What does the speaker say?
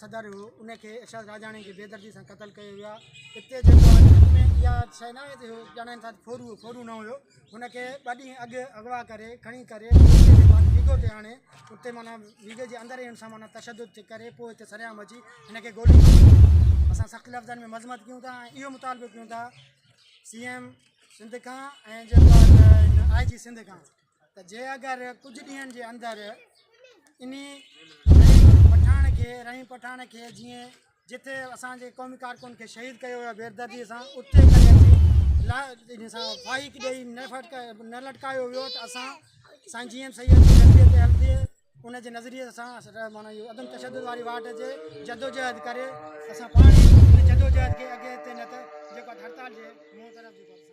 صدر هو ان کي ارشاد راڄاڻي کي بيدردي سان قتل ڪيو ويو آهي اتي جيڪو آهي اها شيء نه آهي جو ڄاڻائين ٿا ته ڦورو هو ڦورو نه هيو هن کي ٻه ڏينهن اڳ اغوا ڪري کڻي ڪري ويگو تي آڻي اتي معنيٰ ويگي جي اندر ان سان معنيٰ تشدد ٿي ڪري پوء هتي سرعام اچي هن کي گولي اسان سخت لفظن ۾ مذمت ڪيون ٿا ۽ اهو مطالبو ڪيون ٿا سی ايم سنڌ کان ۽ جيڪو آء جي سنڌ کان ته جي اگر ڪجهه ڏينهن جي اندر انهي پٺاڻ کي رحيم پٺاڻ کي جيئن جتي اسان جي قومي ڪارڪن کي شهيد ڪيو ويو بيردردي سان اتي ڪري سان فائق ڏيئي نه فٽ نه لٽڪايو ويو ته اسان سائين جي ايم سيد جي نظريي تي هلندي ان جي نظريي سان مانا اهو عدم تشدد واري واٽ جي جدوجهد ڪري اسان پاڻ جدوجهد کي اڳي هتي نه ته جيڪو هڙتال جي منهن طرف جيڪو